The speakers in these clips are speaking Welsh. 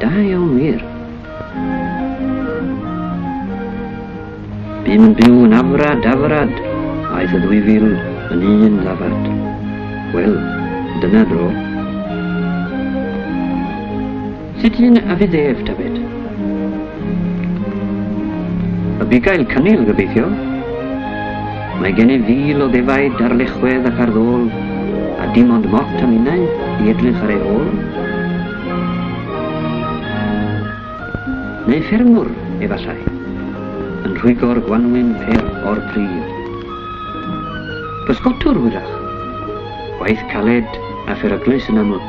Da iawn wir. Bu'n yn byw yn afrad, afrad, aeth y ddwy fil yn un ddafad. Wel, dyna dro. Sut un a fydd ef, David? Y bugail cynil, gobeithio. Mae gennyf fil o ddefaid ar lechwedd ac ar ddôl, a dim ond mot a minnau i edrych ar ei ôl. Neu ffermwr, efallai, yn rhwygo'r gwanwyn per o'r pridd. Pysgotwr, hwyrach, waith caled a pheryglus yn aml.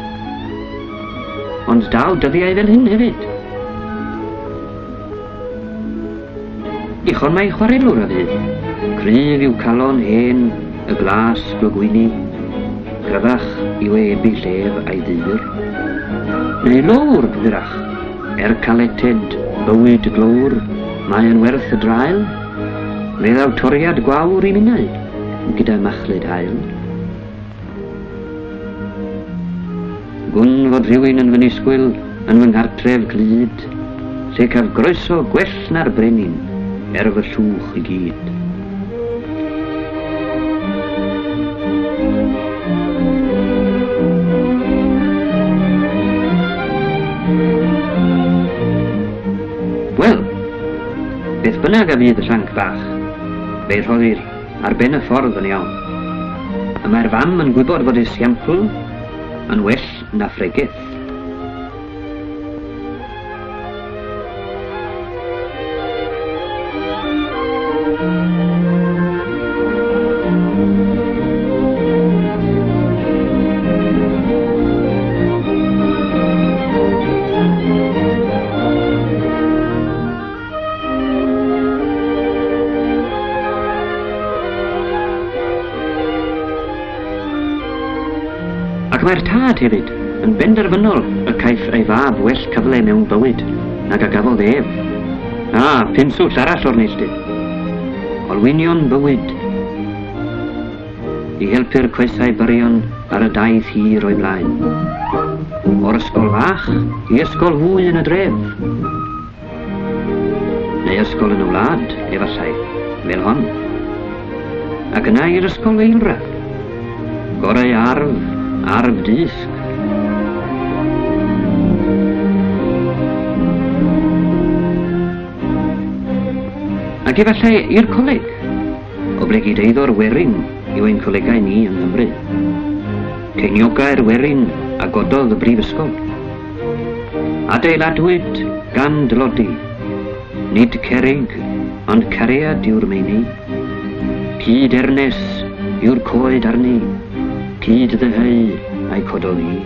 Ond daw dyddiau fel hyn hefyd. Dichon mae chwarelwr a fydd. Cryf yw calon hen y glas glogwyni, cryfach yw e ebu llef a'i ddyr. Neu lowr, hwyrach, er caleted bywyd glowr, mae yn werth y drael, Mae ddaw toriad gwawr i minnau, gyda machlud hael. Gwn fod rhywun yn fy nisgwyl yn fy nghartref glyd, lle caf groeso gwell na'r brenin, er fy llwch i gyd. Wel, beth bynnag a fydd y llanc bach, fe rhoddir ar ben y ffordd yn iawn. Y mae'r fam yn gwybod fod ei siampl yn well na phregeth. Ac mae'r tad hefyd yn benderfynol y caiff ei fab well cyfle mewn bywyd nag a gafodd ef. A, pinswll arall o'r neilldydd. Olwynion bywyd. I helpu'r coesau byrion ar y daith hir o'i blaen. O'r ysgol fach i ysgol fwy yn y dref. Neu ysgol yn y wlad, efallai, fel hon. Ac yna i'r ysgol eilradd. Gorau arf, arf dysg. Ac efallai i'r coleg, oblegid eiddo'r werin yw ein colegau ni yng Nghymru. Ceiniogau'r werin a gododd y brifysgol. Adeiladwyd gan dlodi, nid cerrig, ond cariad yw'r meini. Cyd ernes yw'r coed arni, cyd ddyheu a'i codoli.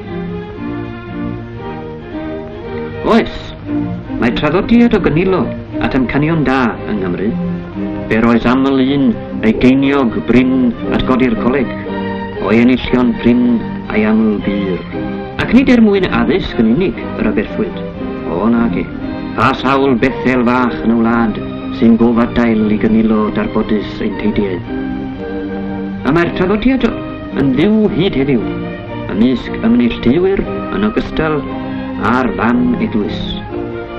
Oes, mae traddodiad o gynilo at amcanion da yng Nghymru. Be'r oes aml un ei geiniog brin at godi'r coleg, o'i enillion prin a'i aml bur. Ac nid er mwyn addysg yn unig yr aberthwyd, o nage, pa sawl Bethel fach yn y wlad sy'n gofadail i gynilo darbodus ein teidiau. A mae'r traddodiad yn fyw hyd heddiw, ymysg ymneilltuwyr yn ogystal a'r fan eglwys.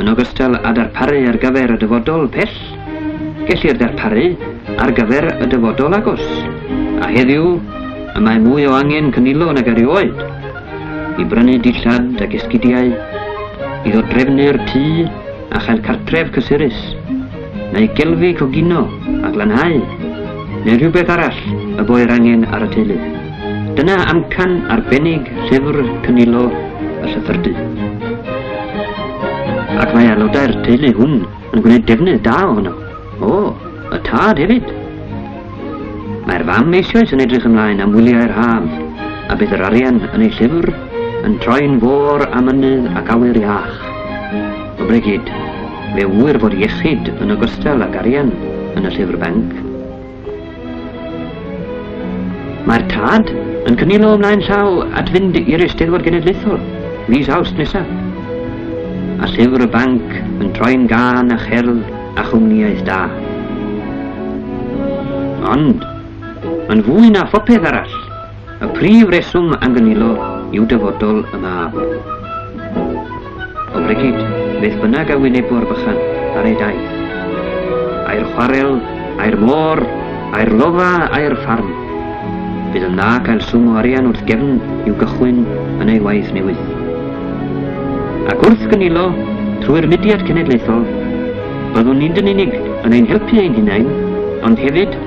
Yn ogystal â darparu ar gyfer y dyfodol pell, gellir darparu ar gyfer y dyfodol agos, a heddiw y mae mwy o angen cynilo nag erioed i brynu dillad ac esgidiau, i ddodrefnu'r tŷ a chael cartref cysurus. neu gelfi coginio a glanhau, neu rhywbeth arall y boer angen ar y teulu. Dyna amcan arbennig llyfr cynilo y llythyrdy. Ac mae aelodau'r teulu hwn yn gwneud defnydd da ohono. O, y tad hefyd. Mae'r fam eisoes yn edrych ymlaen am wyliau'r haf, a bydd yr arian yn ei llyfr yn troi'n fôr a mynydd ac awyr iach. O bregyd, Fe ŵyr fod iechyd yn ogystal ag arian yn y llyfr banc. Mae'r tad yn cynilo ymlaen llaw at fynd i'r Eisteddfod Genedlaethol fis Awst nesaf. A llyfr y banc yn troi'n gân a cherdd a chwmniaeth da. Ond, yn fwy na phopeth arall, Y prif reswm am gynilo yw dyfodol y mab. O Brigid, beth bynnag a wynebo'r bychan ar ei daith. A'r chwarel, a'r môr, a'r lofa, a'r ffarm. Bydd yn dda cael swm o arian wrth gefn i'w gychwyn yn ei waith newydd. Ac wrth gynilo, trwy'r mudiad cenedlaethol, byddwn ni'n dyn unig yn ein helpu ein hunain, ond hefyd